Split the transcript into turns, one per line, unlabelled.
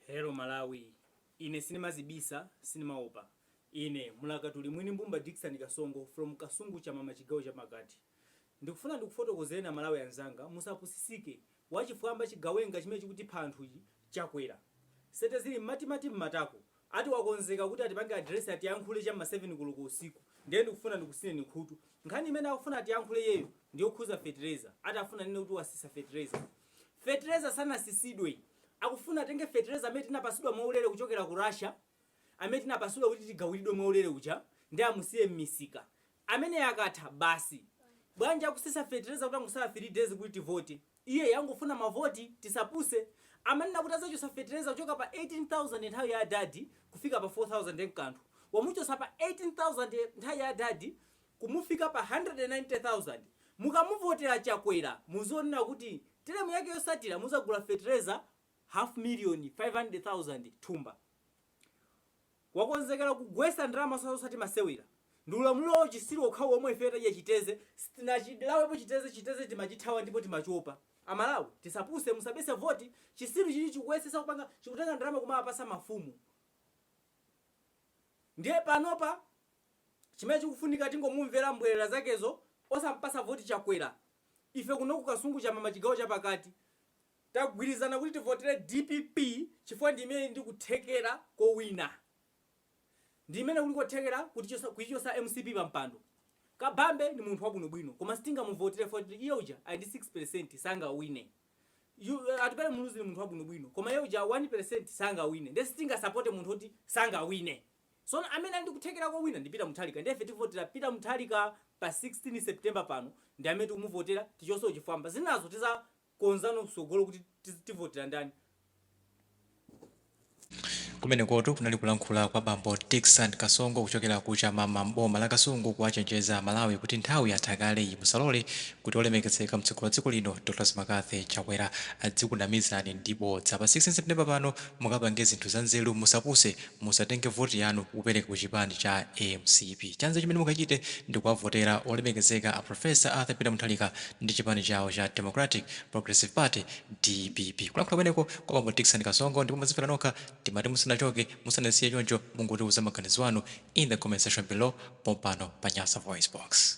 Hello Malawi, ine sinimazibisa, sinimaopa. Ine mlakatuli mwini mbumba Dickson Kasongo from Kasungu Chamama chigawo chapakati. Ndikufuna ndikufotokozereni amalawi anzanga musapusisike, wachifwamba chigawenga chimene chikutipha anthuchi chakwera. Sete zili mmatimati mmatako, Ati wakonzeka kuti atipange address atiyankhule cha m'ma 7 koloko usiku ndiye ndikufuna ndikusineni khutu. Nkhani imene akufuna atiyankhule iyeyo ndi yokhuza fertilizer. Ati afuna anene kuti wasisa fertilizer. Fertilizer sanasisidwe. Akufuna atenge fertilizer amene tinapasidwa mwaulere kuchokera ku Russia, amene tinapasidwa kuti tigawilidwe mwaulere uja ndiye amusiye m'misika. Ameneyo akatha, basi. Bwanji akusisa fertilizer kutangosala 3 days kuti tivote? Iyeyu angofuna mavoti tisapuse. Amanena kuti azachosa fetereza kuchoka pa 18,000 nthawi ya adadi kufika pa 4,000 nkanthu. Wamuchosa pa 18,000 nthawi ya adadi kumufika pa 190,000. Mukamuvotera chakwera muzionera kuti teremu yake yosatira muzagula fetereza half million, 500,000 thumba. wakonzekela kugwesa ndalama si zoti masewera ndi ulamulilo wa uchisilu wokhawokha omwe ifeyo tadya chiteze sitinachilawepo chiteze chiteze timachithawa ndipo timachopa amalawi tisapuse musabesese voti chisiluchi chikuyesesa kupanga chikutenga ndalama kumawapasa mafumu ndiye panopa chimene chikufunika tingomumvela mbwelela zakezo osampasa voti chakwela ife kuno ku kasungu chamama chigawo chapakati Tagwirizana kuti tivotere dpp chifukwa ndi imene ili ndi kuthekera kowina. Ndi imene kuli kothekera kuti kuichotsa mcp pa mpando. Kabambe ndi munthu wabwinobwino koma sitingamuvotere chifukwa choti iye uja ali ndi 6% sangawine. Atupele Muluzi ndi munthu wabwinobwino koma iye uja 1% sangawine ndiye sitingasapote munthu woti sangawine. Tsono amene ali ndi kuthekera kowina ndi Peter Mutharika ndiye ife tivotera Peter Mutharika pa 16 September pano ndi amene tikumuvotera tichotse chifwamba. Zinazo tiza, konzano msogolo kuti tiz- tivotera
ndani Kumenekotu kunali kulankhula kwa bambo Dickson Kasongo kuchokera ku Chamama m'boma la Kasungu kuwachenjeza Amalawi kuti nthawi yatha kale iyi musalole kuti olemekezeka mtsogoleri wa dziko lino Dr. Lazarus McCarthy Chakwera adzikunamizani ndi bodza. Pa 16 September pano mukapange zinthu zanzeru musapuse Musatenge voti yanu kupereka ku chipani cha mcp. Chanzeru chimene mukachite ndi kuwavotera olemekezeka a Prof. Arthur Peter Mutharika ndi chipani chawo cha Democratic Progressive Party, dpp. Kulankhula kumeneko kwa bambo Dickson Kasongo ndipo mwazimvera nokha. Timati musanachoke, musanatisiye choncho mungotiuza maganizo anu in the comment section below pompano pa Nyasa VoiceBox.